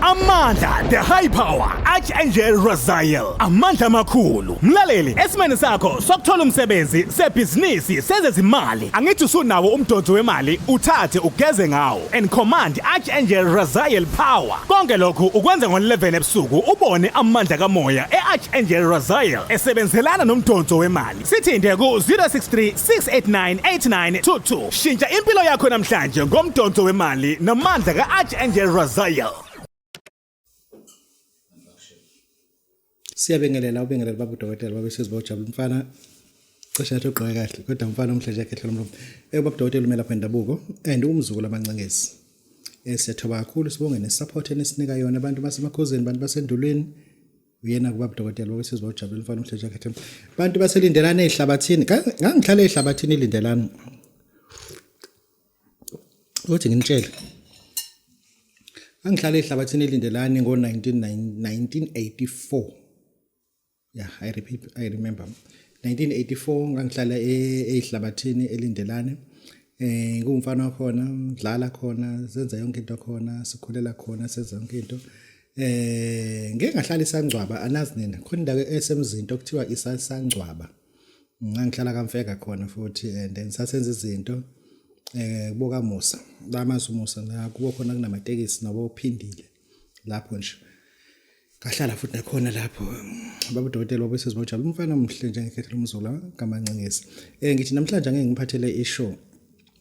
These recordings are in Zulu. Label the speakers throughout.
Speaker 1: Amandla the high power Archangel Raziel amandla amakhulu mlaleli esimene sakho sokuthola umsebenzi sebhizinisi sezezimali angithi usunawo umdonso wemali uthathe ugeze ngawo and command Archangel Raziel power konke lokhu ukwenza ngo11 ebusuku ubone amandla kamoya eArchangel Raziel esebenzelana nomdonso wemali Sithinte ku 0636898922. Shintsha impilo yakho namhlanje ngomdonso wemali namandla ka Archangel Raziel.
Speaker 2: Siyabengelela ubengelela babu dokotela babe sizwa ujabula mfana cishe athi ugqoke kahle kodwa mfana omhlanje yakhe hlelo mlomo. Eh babu dokotela umela kwendabuko and umzukulu amancengezi. Eh siyathoba kakhulu sibonge ne support enisinika yona abantu basemakhosini abantu basendulweni uyena kuba budokotela bake sizwa ujabule mfana uhlesha khethe bantu baselindelana ezihlabathini ngangihlala ezihlabathini ilindelana uthi nginitshele angihlala ehlabathini elindelani ngo-1984 yeah i repeat i remember 1984 ngangihlala ehlabathini elindelane eh ngumfana khona ngidlala khona senza yonke into khona sikhulela khona senza yonke into Eh ngeke ngahlala isangcwaba anazi nina khona indawo esemzinto okuthiwa isasangcwaba. Ngangihlala kamfeka khona futhi and ngisasenza izinto eh kuboka Musa. La mazi Musa la kubo khona kunamatekisi nabo ophindile lapho nje. Ngahlala futhi nakhona lapho baba dokotela wabe sezibojaba umfana omhle njengekhethelo umzula kamancingizi. Eh ngithi namhlanje ngeke ngiphathele ishow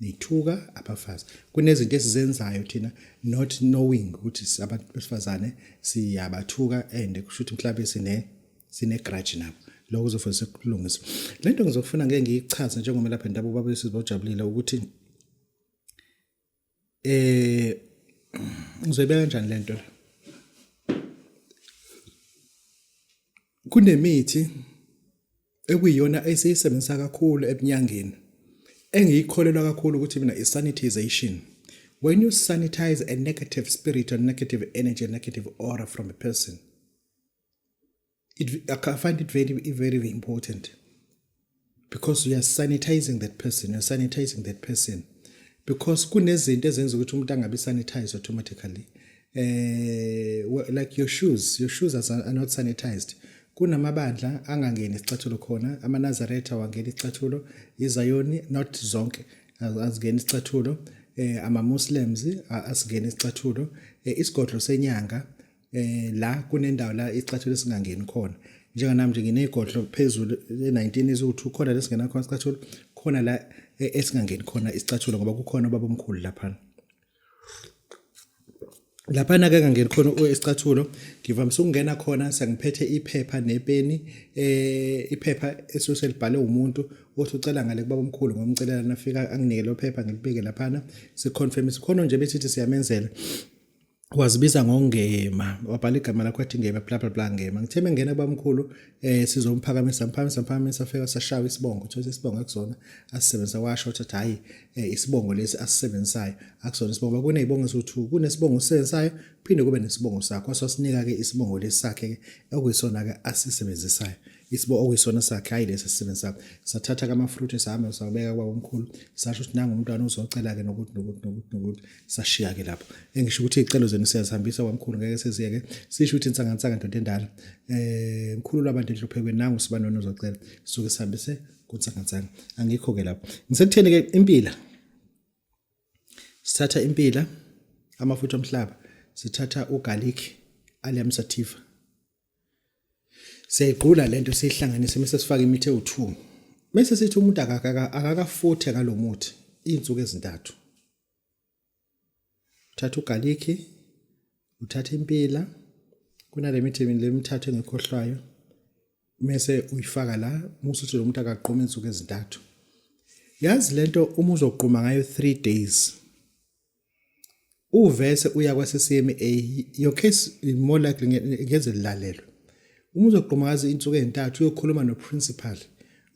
Speaker 2: nithuka abafazi kunezinto esizenzayo thina not knowing ukuthi abantu besifazane siyabathuka and kusho ukuthi mhlawumbe sine sine grudge nabo lokho kuzofundisa ukulungisa le nto ngizofuna ngeke ngiyichaze njengomelaphi ndabuko babesizobajabulile ukuthi eh ngizoyibeka kanjani lento la kunemithi ekuyiyona esiyisebenzisa kakhulu ebunyangeni engiyikholelwa kakhulu ukuthi mina isanitization when you sanitize a negative spirit or negative energy negative aura from a person it, I find it very, very important because we are sanitizing that person, we are sanitizing that person. Because kunezinto ezenza ukuthi umuntu angabi sanitized automatically. Eh like your shoes, your shoes are not sanitized. Kunamabandla angangeni isicathulo khona, amanazaretha wangena isicathulo, izayoni not zonke azingena isicathulo, eh ama Muslims asingena isicathulo, eh, isigodlo senyanga eh la kunendawo la isicathulo singangeni khona njenga nami nje nginegodlo phezulu e19 izu2 khona lesingena khona isicathulo khona la e, esingangeni khona isicathulo ngoba kukhona baba omkhulu lapha lapha na ke ngangeni khona isicathulo ngivamise ukungena khona sengiphethe iphepha nepeni eh iphepha esoselibhale umuntu othi ucela ngale kubaba omkhulu ngomcelela nafika anginike lo phepha ngilibeke lapha na siconfirm sikhona nje bethi siyamenzela wazibiza ngongema wabhala igama lakho athi ngema bla bla bla ngema ngithe mengena bamkhulu eh sizomphakamisa mphakamisa mphakamisa fika sashaya isibongo thola isibongo akusona asisebenzisa washo ukuthi hayi eh, isibongo lesi asisebenzisayo akusona isibongo kunezibongo eziwu2 kunesibongo sisebenzisayo phinde kube nesibongo sakho wasosinika ke isibongo lesakhe ke okuyisona ke asisebenzisayo isibo okuyisona sakhe hayi lesi sisebenzi sakho sathatha kamafruthi sahamba sakubeka kwabomkhulu sasho ukuthi nangu umntwana uzocela-ke nokuthi nokuthi nokuthi nokuthi sashiya-ke lapho engisho ukuthi iy'celo zenu siyazihambisa kwamkhulu ngeke siziyeke sisho ukuthi insangansanga ndoda endala um mkhulu lwabantu enhluphekweni nangu sibanoni uzocela suke sihambise kunsangansanga angikho-ke lapho ngisekutheni-ke impila sithatha impila amafutha omhlaba sithatha ugalikhi aliamsativa Siyayigqula lento siyihlanganise mase sifaka imithi ewu2. Mase sithi umuntu akakafuthe ngalomuthi izinsuku ezintathu. Uthatha ugarlic, uthatha impila, kunalemithi lemithathu engikhohlwayo. Mase uyifaka la, musa ukuthi lomuntu akaqhuma izinsuku ezintathu. Yazi lento uma uzogquma ngayo 3 days uvese uya kwaseCMA your case more likely ngeze lilalelwe uma uzoqhumakaza insuku ezintathu uyokhuluma noprincipal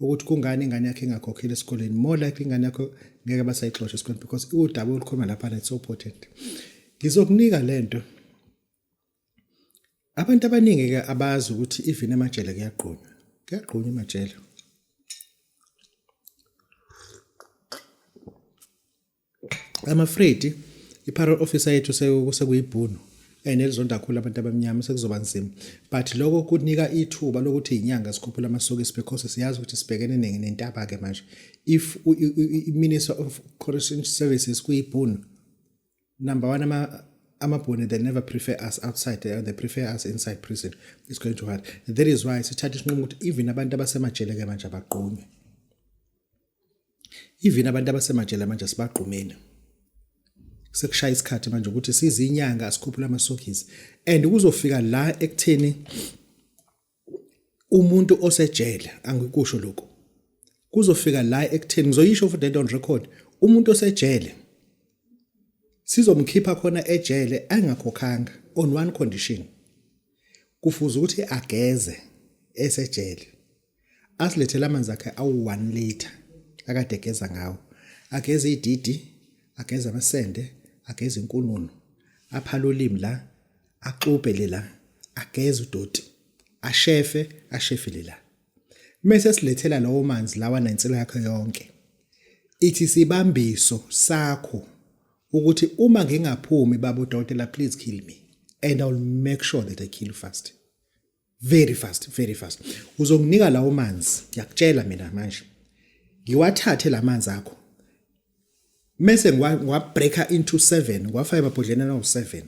Speaker 2: ukuthi kungani ingane yakhe ingakhokhile esikoleni more likely ingane yakho ngeke basayixosha esikoleni because udaba olukhuluma lapha it's so important ngizokunika lento abantu abaningi ke abazi ukuthi even emajele kuyagqunywa kuyagqunywa emajele I'm afraid i-parole officer yethu sekuyibhunu and elizonda kakhulu abantu abamnyama sekuzoba nzima but lokho kunika ithuba lokuthi inyanga sikhuphula amasokisi because siyazi ukuthi sibhekene nentaba ke manje if i-minister of correction services kuyibhunu number one ama amabhuni they never prefer us outside they, they prefer us inside prison it's going to hard that is why sithatha isinqumo ukuthi even abantu abasemajele ke manje abagqunywe even abantu abasemajele manje sibagqumile sekushaya isikhathi manje ukuthi sizinyanga asikhuphula amasokisi and kuzofika la ekutheni umuntu osejele angikusho lokho kuzofika la ekutheni ngizoyisho for dead on record umuntu osejele sizomkhipha khona ejele angakhokhanga on one condition kufuze ukuthi ageze esejele asilethele amanzi akhe awu-1 liter akade egeza ngawo ageze ididi ageze amasende ageze inkununu aphala ulimi la axubhe le la ageze udoti ashefe ashefele la mese silethela lawo manzi lawa nensila yakhe yonke ithi sibambiso sakho ukuthi uma ngingaphumi babo dokotela please kill me and i will make sure that i kill you fast very fast very fast uzokunika lawo manzi ngiyakutshela mina manje ngiwathathe lamanzi akho mese ngiwabreaker into 7 ngiwafaka emabhodleni awu7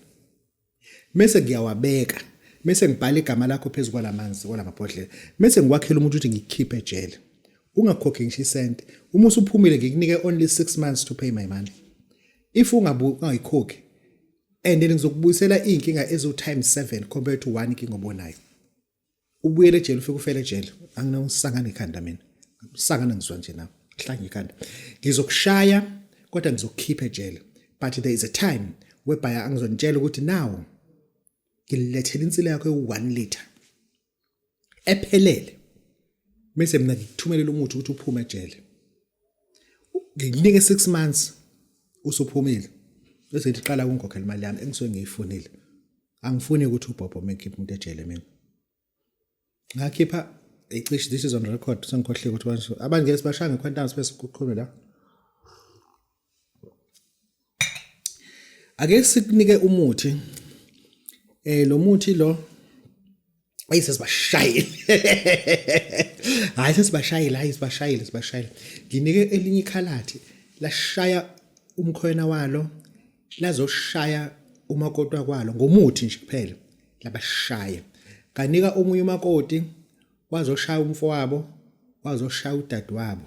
Speaker 2: mese ngiyawabeka mese ngibhala igama lakho phezu kwalamanzi kwalamabhodlela mese ngikwakhela umuntu ukuthi ngikhiphe ejele ungakhokhi ngisho isent uma usuphumile ngikunike only 6 months to pay my money if ungayikhokhi and then ngizokubuyisela iy'nkinga eziwu times seven compared to one inkinga obonayo ubuyele ejele ufike ufele ejele anginosangana ikhanda mina sangana ngizwa nje nawe hlanga ikhanda ngizokushaya kodwa ngizokukhipha ejele but there is a time webhaya angizonitshela ukuthi nawo ngililethela insila yakho ewu-one liter ephelele mase mina ngikuthumelela umuthi ukuthi uphume ejele ngikunike 6 months usuphumile bese ngiqala ukungikhokhela imali yami engisuke ngiyifunile angifuni ukuthi ubhobho mekhipha umuntu ejele mina ngakhipha ecishe this is on record sengikhohlile ukuthi abantu ngeke sibashange quantum space kuqhume la ake sikunike umuthi eh lo muthi lo ayi sesibashayile hayi sesibashayile hayi sibashayile sibashayile nginike elinye ikhalathi lashaya umkhwena walo lazoshaya umakoti wakwalo ngomuthi nje kuphela labashaya kanika omunye umakoti wazoshaya umfowabo wazoshaya udadewabo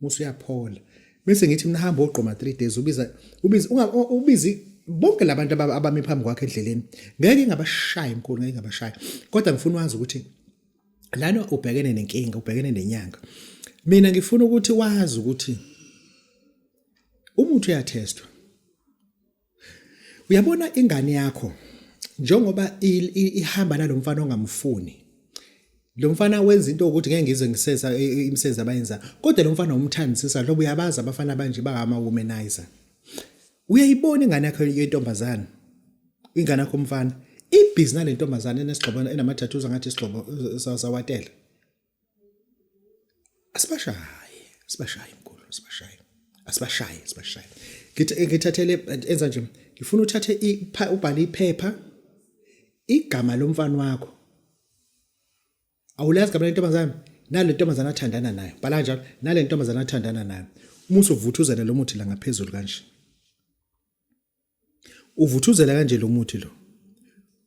Speaker 2: musa uyaphola bese ngithi mina hamba ogqoma 3 days ubiza ubiza ubizi bonke labantu abami phambi kwakhe endleleni ngeke ngabashaya enkulu ngeke ngabashaya kodwa ngifuna wazi ukuthi lana ubhekene nenkinga ubhekene nenyanga mina ngifuna ukuthi wazi ukuthi umuntu uyathestwa Uyabona ingane yakho njengoba ihamba nalomfana ongamfuni lo mfana wenza into ukuthi ngeke ngize ngisesa e, e, imisebenzi abayenza kodwa lo mfana umthandisisa lobo uyabazi abafana abanje bangama womanizer uyayibona ingane yakho yentombazana ingane yakho umfana ibhizi nalentombazana enesigxobo enamathathuza ngathi isigxobo sawatela asibashaye sibashaye mkhulu sibashaye asibashaye sibashaye ngithathele enza nje ngifuna uthathe ubhale iphepha igama lomfana wakho awulazi gama lentombazane nale ntombazane athandana nayo bhala njalo nale ntombazane athandana nayo uma usuvuthuzela lo muthi la ngaphezulu kanje Uvuthuzela kanje lo muthi lo.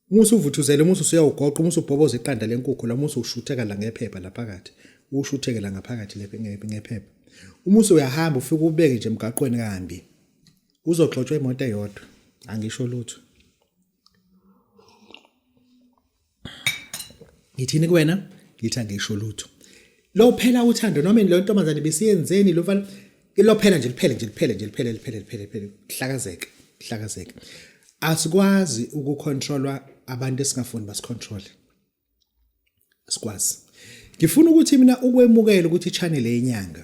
Speaker 2: Uma usuvuthuzela uma usuyawugoqa uma usubhoboza iqanda lenkukhu la uma usushutheka la ngephepha la phakathi. Ushutheke la ngaphakathi ngephepha. Uma usuyahamba ufike ubeke nje emgaqweni kambi. Uzogxotshwa imoto eyodwa. Angisho lutho. ngithini kuwena ngithi angisho lutho lophela uthando noma lo ntombazane besiyenzeni lo mfana lophela nje liphele nje liphele nje liphele liphele liphele liphele hlakazeke hlakazeke asikwazi ukucontrolwa abantu esingafuni basicontrol asikwazi ngifuna ukuthi mina ukwemukela ukuthi channel yenyanga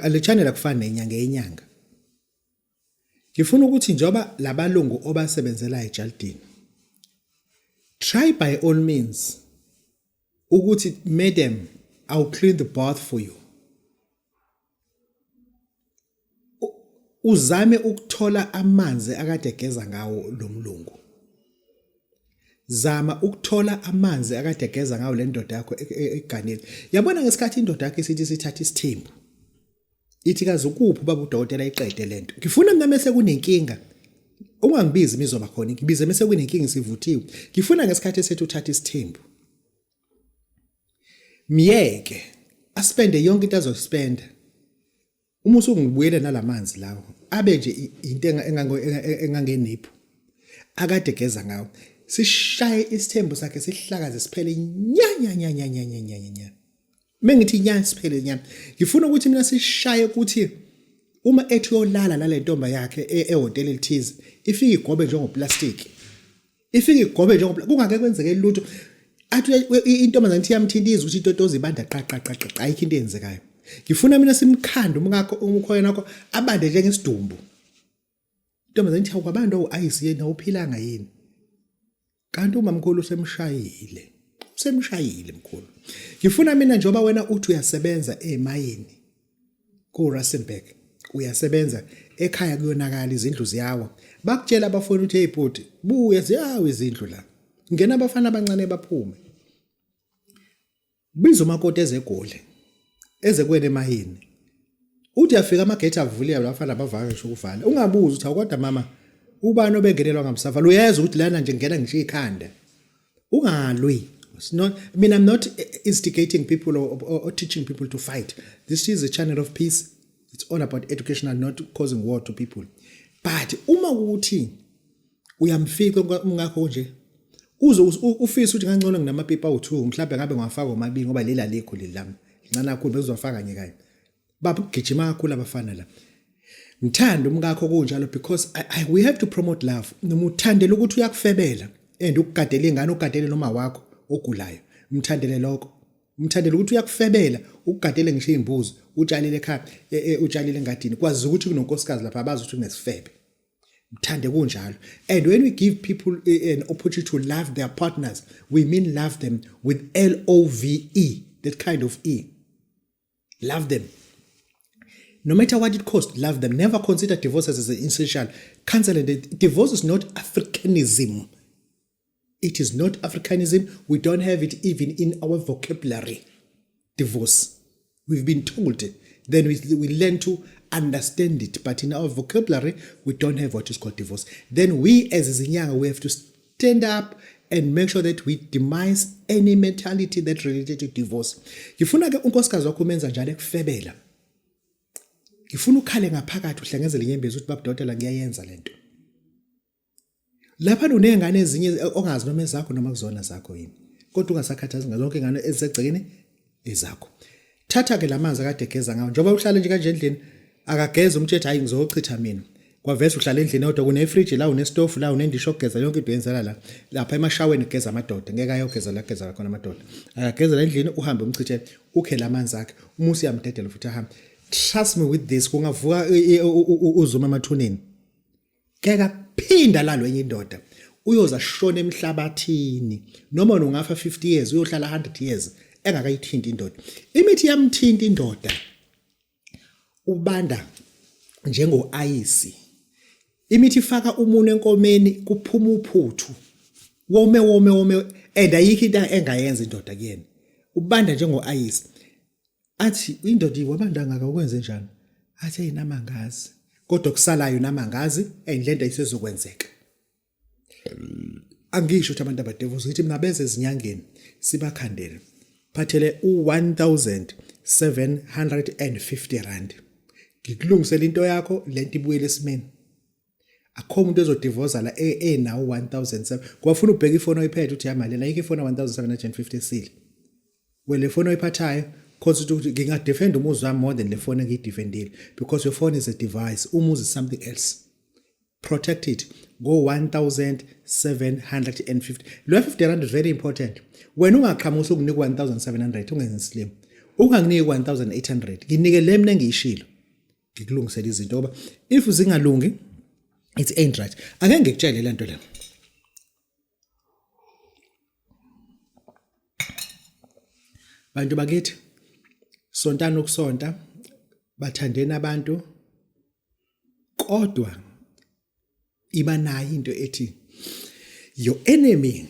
Speaker 2: le channel akufani nenyanga yenyanga ngifuna ukuthi njengoba labalungu obasebenzela ejalidini try by all means ukuthi madam i'll clean the bath for you uzame ukuthola amanzi akade egeza ngawo lo mlungu zama ukuthola amanzi akade egeza ngawo le ndoda yakho e-, e-, eganile yabona ngesikhathi indoda yakho isithi sithatha isithembu ithi kazi ukuphi ubaba udokotela iqede lento ngifuna mina mese kunenkinga ungangibizi imizoba khona ngibize mese kunenkinga sivuthiwe ngifuna ngesikhathi esethu uthatha isithembu myeke aspende yonke into azospenda uma usungibuyele nalamanzi lawo abe nje into engangenipho akade geza ngawo sishaye isithembu sakhe sihlakaze siphele nya nya nya nya nya nya nya nya Uma ngithi nyani siphele nyani ngifuna ukuthi mina sishaye ukuthi uma ethi uyolala nale ntomba yakhe e-, ehhotela elithize ifike igobe njengoplastiki ifike igobe njengoplastiki kungake kwenzeke lutho athi intombazane ithi yamthinta izwe ukuthi itotozi ibanda qaqaqaqaqa ayikho into eyenzekayo ngifuna mina simkhande umkakho umkhoyena wakho abande njengesidumbu Intombazane ithi awukabantu awu-ayisi yena awuphilanga yini? Kanti umamkhulu usemshayile. Usemshayile mkhulu. Ngifuna mina njengoba wena uthi uyasebenza emayini ku-Rustenburg. Uyasebenza ekhaya kuyonakala izindlu ziyawa. Bakutshela abafowenu ukuthi hey bhuti buya ziyawa izindlu la. Ngena abafana abancane baphume. Biza umakoti ezeGoli, eze kuwena emayini. Uthi uyafika amagethi avuliwe abafana bavaka ngisho ukuvala. Ungabuzi ukuthi hawu kodwa mama ubani obengenelwa ngamsavala? Uyeza ukuthi lana nje ngingena ngishiye ikhanda. Ungalwi. It's not, I mean, I'm not instigating people or, or, or teaching people to fight. This is a channel of peace. It's all about education and not causing war to people. But uma ukuthi uyamfica umkakho nje uze ufise ukuthi ngangcono nginamapipa awu-2 mhlawumbe ngabe ngiwafaka omabili ngoba leli alikho leli lami lincane kakhulu bezizofaka kanye kanye babugijima kakhulu abafana la ngithanda umkakho kunjalo because I, I, we have to promote love noma uthandela ukuthi uyakufebela and ukugadela ingane ugadele noma wakho ogulayo mthandele lokho mthandele ukuthi uyakufebela ukugadele ngisho izimbuzi utshalile ekhaya e, e, utshalile engadini kwazi ukuthi kunonkosikazi lapha abazi ukuthi kunesifebe mthande kunjalo and when we give people eh, an opportunity to love their partners we mean love them with l o v e that kind of e love them no matter what it costs love them never consider divorce as an essential cancel it divorce is not africanism It is not Africanism. We don't have it even in our vocabulary. Divorce. We've been told. Then we, we learn to understand it. But in our vocabulary, we don't have what is called divorce. Then we as Zinyanga, we have to stand up and make sure that we demise any mentality that related to divorce ngifuna ke unkosikazi wakho umenza njalo ekufebela ngifuna ukhale ngaphakathi uhlengezele inyembezi ukuthi babudokotela ngiyayenza lento lapha unezingane ezinye ongazi noma ezakho noma kuzona zakho yini kodwa ungasakhathazi ngazo zonke ingane ezisegcekeni ezakho thatha ke lamanzi akade geza ngawo njengoba uhlale nje kanje endlini akageza umthetho hayi ngizochitha mina kwavese uhlala endlini kodwa kunefridge la unestofu la unendisho ogeza yonke into yenzela la lapha emashaweni geza amadoda ngeke ayogeza la geza khona amadoda akagezela endlini uhambe umchithe ukhe lamanzi akhe umusi yamdedela futhi ahambe trust me with this kungavuka uzuma emathuneni ngeke aphinda lalwe enye indoda uyoza shona emhlabathini noma ungafa 50 years uyohlala 100 years engakayithinti indoda imithi yamthinta indoda ubanda njengoayisi imithi ifaka umuntu enkomeni kuphuma uphuthu wome wome wome and ayikho into engayenza indoda kuyena ubanda njengoayisi athi indoda iwabandangaka ukwenze njani athi ayinamangazi kodwa kusalayo namangazi and lento ayisezokwenzeka angisho ukuthi abantu abadevuza ukuthi mina beze ezinyangeni sibakhandele phathele u1750 rand ngikulungisela into yakho lento ibuyele esimeni akho umuntu ezodivoza la e, e nawo 1007 ngoba funa ubheka ifoni oyiphethe uthi yamali la yike ifoni 1750 esile we le foni oyiphathayo cause ukuthi ngingadefend umuzi wami more than le foni engiyidefendile because your phone is a device umuzi is something else protect it go 1750 lo 50 rand is very important wena ungaqhamusa ukunika 1700 ungenzi slim unganginiki 1800 nginike le mina engiyishilo ngikulungisele izinto ngoba if zingalungi it ain't right ake ngikutshele le nto le bantu bakithi sontana ukusonta bathandeni abantu kodwa iba nayo into ethi your enemy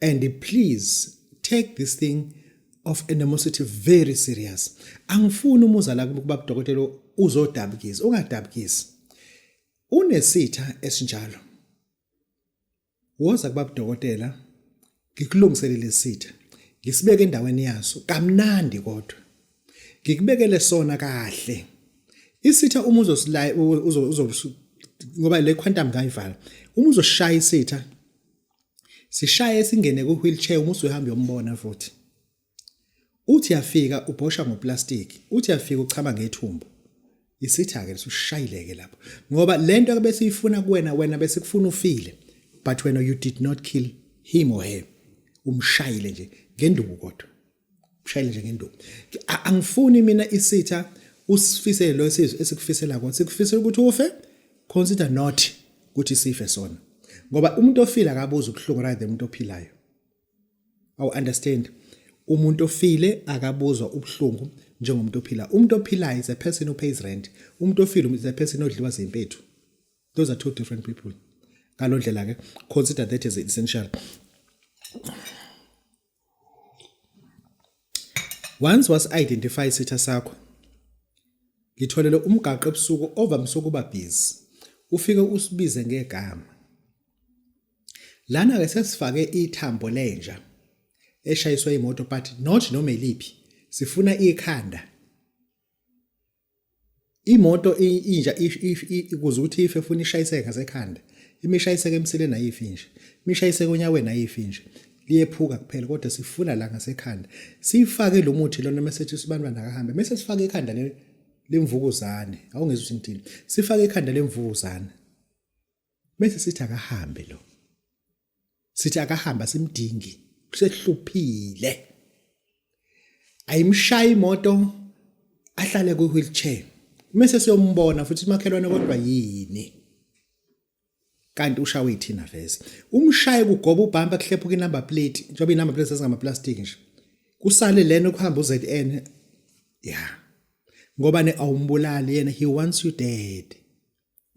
Speaker 2: and please take this thing of animosity very serious angifuni umuza la kuba kudokotela uzodabukisa ungadabukisi unesitha esinjalo woza kuba kudokotela ngikulungiselele isitha ngisibeke endaweni yaso kamnandi kodwa ngikubekele sona kahle isitha uma uzosilaya uzo ngoba le quantum kayivala uma uzoshaya isitha sishaye singene ku wheelchair uma usuhamba yombona futhi uthi yafika ubhosha ngoplastic uthi yafika uchama ngethumbu isitha ke usushayileke lapho ngoba lento ke bese ifuna kuwena wena bese kufuna ufile but wena you did not kill him or her umshayile nje ngenduku kodwa ushayele nje ngenduku angifuni mina isitha usifisele lo sizwe esikufisela konke sikufisela ukuthi ufe consider not ukuthi sife sona ngoba umuntu ofile akabuza ubuhlungu rather umuntu ophilayo awu understand umuntu ofile akabuzwa ubuhlungu njengomuntu ophila umuntu ophilayo is a person who pays rent umuntu ofile is a person odliwa zimpethu those are two different people ngalondlela ke consider that as essential Once was identify isitha sakho ngitholele umgaqo ebusuku ovamise ukuba busy ufike usibize ngegama lana ke sesifake ithambo lenja eshayiswa imoto but not noma eliphi sifuna ikhanda imoto inja ikuze ukuthi ife funa ishayiseke ngasekhanda imishayiseke emsileni ayifi nje imishayiseke onyaweni ayifi nje liyephuka kuphela kodwa sifuna la ngasekhanda sifake lo muthi lona mesethi sibantwana akahambe mese sifake ekhanda le lemvukuzane awungezwa ukuthi ngithini sifake ekhanda lemvukuzane bese sithi akahambe lo sithi akahamba simdingi sehluphile ayimshaya imoto ahlale ku wheelchair mase siyombona futhi makhelwane kodwa yini kanti ushawe ithina vese umshaye kugoba ubhampa kuhlephuka inumber plate njengoba inumber plate sezingama plastic nje kusale lena ukuhamba uZN yeah ngoba ne awumbulali yena he wants you dead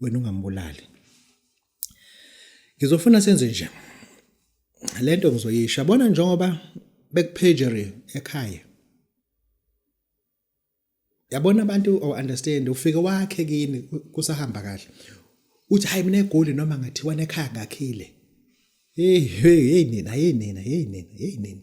Speaker 2: wena ungambulali ngizofuna senze nje lento ngizoyisha bona njengoba bekupagery ekhaya yabona abantu o understand ufike wakhe kini kusahamba kahle uthi hayi mina egoli noma ngathiwa nekhaya ngakhile hey hey hey nina hey nina hey nina hey nina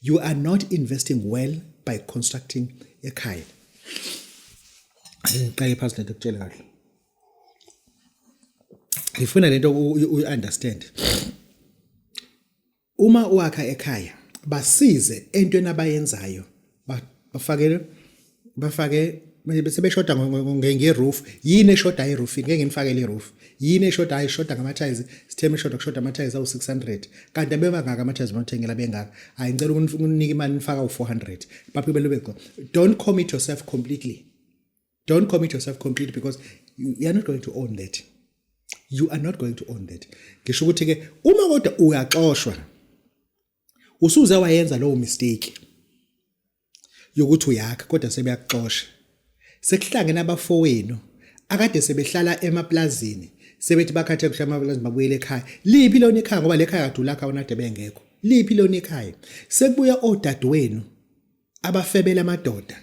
Speaker 2: you are not investing well by constructing ekhaya ngiqale phansi lento kutshela kahle ngifuna lento uyi-understand uma uwakha ekhaya basize entweni abayenzayo bafakele bafake sebeshoda ngeroof yini eshoda iroofini ngeke ngimfakele iroof yini eshoda ayishoda ngamathayizi sitheme eshoda kushoda amathayizi awu-600 kanti abebangaka amathayizi nothengela bengaka hayi ngicela ukunike imali nifaka u-400 baphi belube go don't commit yourself completely don't commit yourself completely because you are not going to own that you are not going to own that ngisho ukuthi-ke uma kodwa uyaxoshwa usuze wayenza lowo mistake yokuthi uyakha kodwa sebeyakuxosha sekuhlangene abafowenu akade sebehlala emaplazini sebethi bakhathe kuhle amaplazini babuyele ekhaya liphi lona ikhaya ngoba lekhaya kadula akha onade bengekho liphi lona ikhaya sekubuya odadewenu abafebela amadoda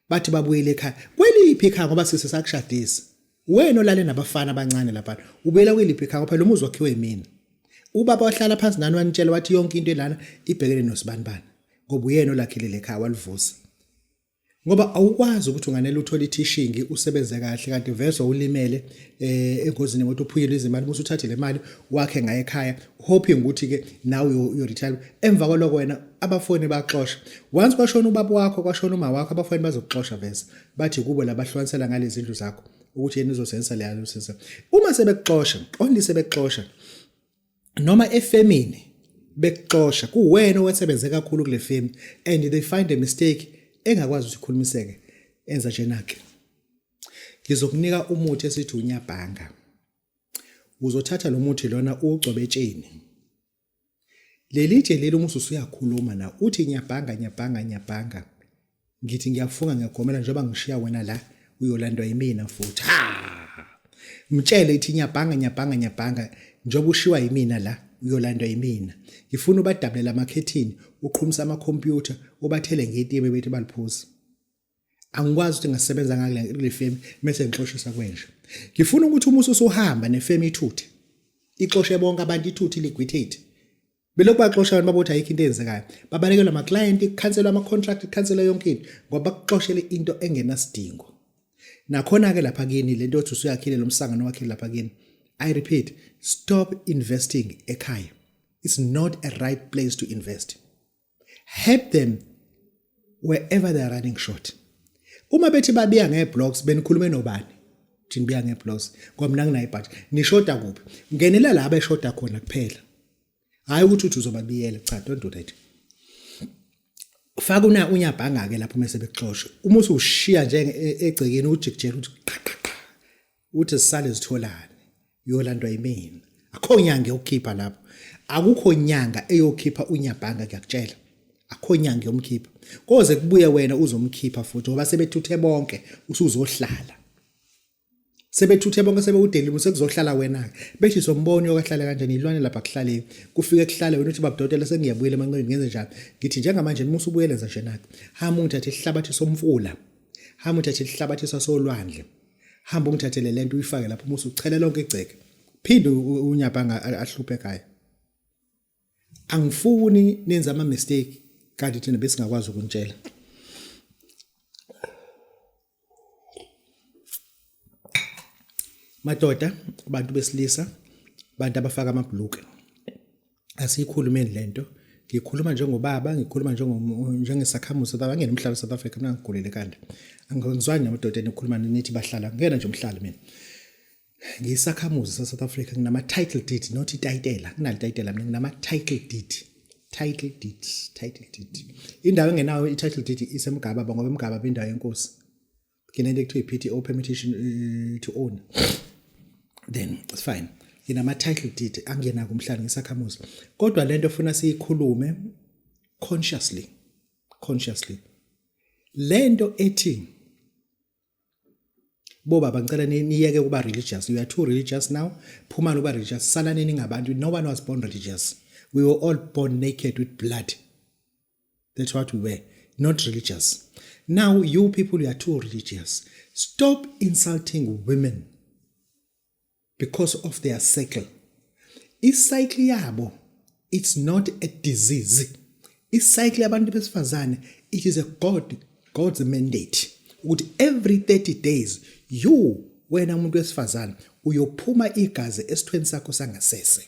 Speaker 2: bathi babuyele ekhaya kweliphi ikhaya ngoba sise sakushadisa Wena olale nabafana abancane laphana, ubuyela kweliphi ekhaya phela umuzi wakhiwe yimina. Ubaba wahlala phansi nani wanitshela wathi yonke into elana ibhekene nosibanibani ngoba uyena olakhile lekhaya walivusa. Ngoba awukwazi ukuthi unganele uthole ithishingi usebenze kahle kanti vese ulimele eh engozini ngokuthi uphuyile izimali musu uthathe le mali wakhe ngaye ekhaya hoping ukuthi ke nawe uyo retire emva kwaloko wena abafoni baxosha once kwashona ubaba wakho kwashona uma wakho abafoni bazokuxosha vese bathi kubo labahlukanisela ngalezindlu zakho ukuthi yena uzosensa leya uzosensa uma sebekuxosha only sebekuxosha noma efemini bekuxosha kuwena owasebenze kakhulu kule femi and they find a mistake engakwazi ukuthi ikhulumiseke enza njenake ngizokunika umuthi esithi unyabhanga uzothatha lo muthi lona ugcobe etsheni leli tshe leli umusa usuyakhuluma na uthi ngiyabhanga ngiyabhanga ngiyabhanga ngithi ngiyafunga ngiyagomela njengoba ngishiya wena la uyolandwa yimina futhi ha mtshele ithi ngiyabhanga ngiyabhanga ngiyabhanga njengoba ushiwa yimina la uyolandwa yimina ngifuna ubadabulela amakhethini uqhumisa amakhompyutha ubathele ngetiye bebethi baliphuza angikwazi ukuthi ngasebenza ngakule kule femi mase ngixoshisa kwenje ngifuna ukuthi uma usuhamba nefemi ithuthe ixoshe bonke abantu ithuthe liquidate belokhu baxosha abantu babothi ayikho into eyenzekayo babalekelwa ama client ikhanselwa ama contract ikhanselwa yonke into ngoba bakuxoshele into engenasidingo nakhona ke lapha kini lento othi usuyakhile lomsangano wakhe lapha kini i repeat stop investing ekhaya it's not a right place to invest help them wherever they are running short uma bethi babiya ngeblocks benikhulume nobani thina biya ngeblocks ngoba mina nginayo ibhathi nishoda kuphi ngenela la abeshoda khona kuphela hayi ukuthi uthi uzobabiyela cha don't do that faka una unyabhanga ke lapho mase bexosha uma ushiya nje e, egcekeni ujikjela uthi uthi sisale zitholane yolandwa yimina akho nyanga yokukhipha lapho akukho nyanga eyokhipha unyabhanga ngiyakutshela akho nyanga yomkhipha koze kubuye wena uzomkhipha futhi ngoba sebethuthe bonke usuzohlala sebethuthe bonke sebewudelile sekuzohlala wena ke bethi somboni okahlale kanjani ilwane lapha kuhlale kufike kuhlale wena uthi babudotela sengiyabuyela emanqeni ngenze njani ngithi njengamanje musa ubuyele nje nake hamba ungithathe isihlabathi somfula hamba uthathe isihlabathi sasolwandle hamba ungithathele lento uyifake lapho musa uchele lonke igceke phinde unyabhanga ahluphe ekhaya angifuni nenze ama mistake kanti thina besingakwazi ukuntshela madoda abantu besilisa abantu abafaka amabhuluke asiyikhulumeni lento ngikhuluma njengobaba ngikhuluma njengesakhamuzi baba ngiyena umhlaba South Africa mina ngigulele kande angizwani namadoda enikhuluma nithi bahlala ngiyena nje umhlali mina ngisakhamuzi sa South Africa nginama title deed not itayitela nginali tayitela mina nginama title deed title deed title deed indawo engenayo i title deed isemgaba ngoba emgaba bendawo yenkosi nginento ekuthiwa i-PTO permutation uh, to own then it's fine nginama title deed angena kumhlanje ngisakhamuzi kodwa lento ofuna siyikhulume consciously consciously lento ethi bo baba ngicela niyeke ukuba religious you are too religious now phuma loba religious salaneni ngabantu no one was born religious we were all born naked with blood That's what we were, not religious. Now you people, you are too religious. Stop insulting women because of their cycle. Icycle yabo, it's not a disease. Icycle yabantu besifazane, it is a God, God's mandate. Ukuthi every 30 days, you wena umuntu wesifazane uyophuma igazi esithweni sakho sangasese.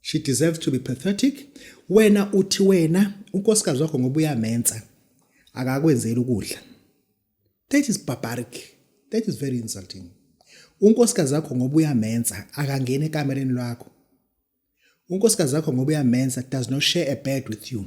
Speaker 2: she deserves to be pathetic wena uthi wena unkosikazi wakho ngoba uyamensa akakwenzeli ukudla that is barbaric that is very insulting unkosikazi wakho ngoba uyamensa akangena ekamereni lwakho unkosikazi wakho ngoba uyamensa does not share a bed with you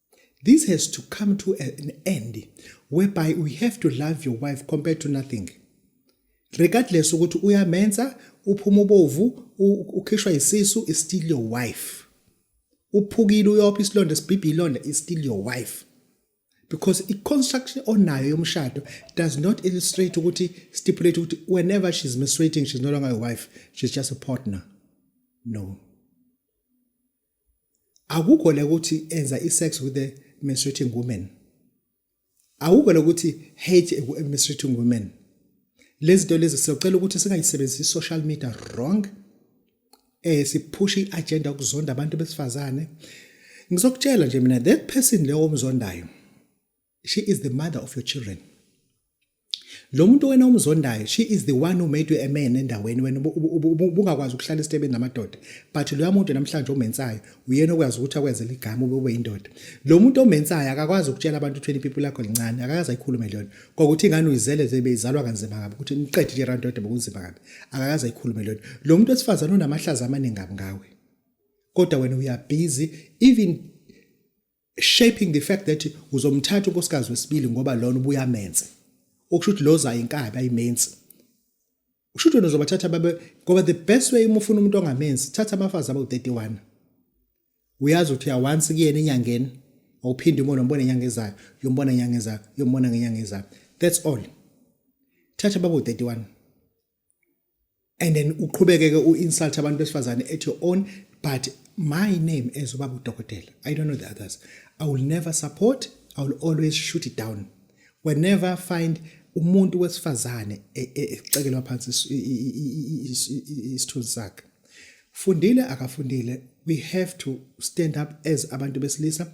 Speaker 2: This has to come to an end whereby we have to love your wife compared to nothing. Regardless ukuthi uyamenza uphuma ubovu ukhishwa isisu is still your wife. Uphukile uyophi isilonda sibhibhi ilonda is still your wife. Because i construction onayo yomshado does not illustrate ukuthi stipulate ukuthi whenever she's menstruating she's no longer your wife she's just a partner. No. akukho la ukuthi enza i-sex with a menstruating woman akukho la ukuthi hate a menstruating woman lezi zinto lezi siyocela ukuthi singayisebenzisi social media wrong eh siphusha iagenda ukuzonda abantu besifazane ngizokutshela nje mina that person leyo omzondayo she is the mother of your children lo muntu wena omzondayo she is the one who made you a man endaweni wena ubungakwazi ukuhlala esitebeni namadoda but loya muntu namhlanje omensayo uyena okwazi ukuthi akwenze ligama ube ube indoda lo muntu omensayo akakwazi ukutshela abantu 20 people lakho lincane akakaze ayikhulume leyona kokuthi ingane uyizele nje beyizalwa kanzima kabi ukuthi niqede nje randoda bokunzima kabi akakaze ayikhulume leyona lo muntu wesifazane unamahlaza amaningi ngawe kodwa wena uyabhizi even shaping the fact that uzomthatha unkosikazi wesibili ngoba lona ubuyamenze okusho ukuthi lo zayo inkabi ayimenzi usho ukuthi uzobathatha babe ngoba the best way uma ufuna umuntu ongamenzi thatha abafazi abawu-31 uyazi ukuthi uyawansi kuyena enyangeni awuphinde umona umbone enyanga ezayo uyombona enyanga ezayo uyombona ngenyanga ezayo that's all thatha babu-31 and then uqhubeke ke uinsult abantu besifazane at your own but my name as ubaba udokotela i don't know the others i will never support i will always shoot it down whenever find umuntu wesifazane e, e, ecekelwa phansi isithunzi sakhe fundile akafundile we have to stand up as abantu besilisa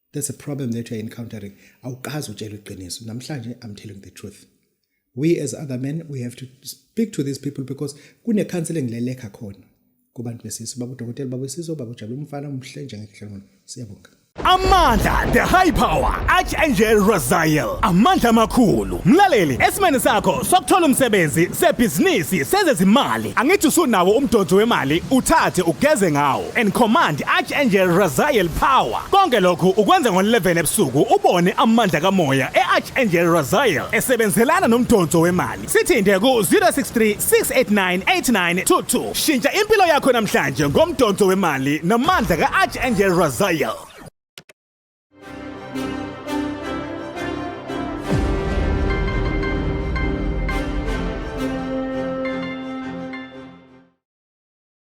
Speaker 2: That's a problem that you're encountering. Awukazi utshela iqiniso. Namhlanje I'm telling the truth. We as other men we have to speak to these people because kune counseling lelekha khona kubantu besizwe babudokotela babesizwe babujabula umfana umhle njengehlangano. Siyabonga. amandla
Speaker 1: the high power archangel razael amandla amakhulu mlaleli esimene sakho sokuthola umsebenzi sebhizinisi sezezimali angithi usunawo umdonso wemali uthathe ugeze ngawo and command Archangel Raziel power konke lokhu ukwenza ngo-11 ebusuku ubone amandla kamoya e-Archangel Raziel esebenzelana nomdonso wemali sithinte ku-063 689 8922 shintsha impilo yakho namhlanje ngomdonso wemali namandla ka-Archangel Raziel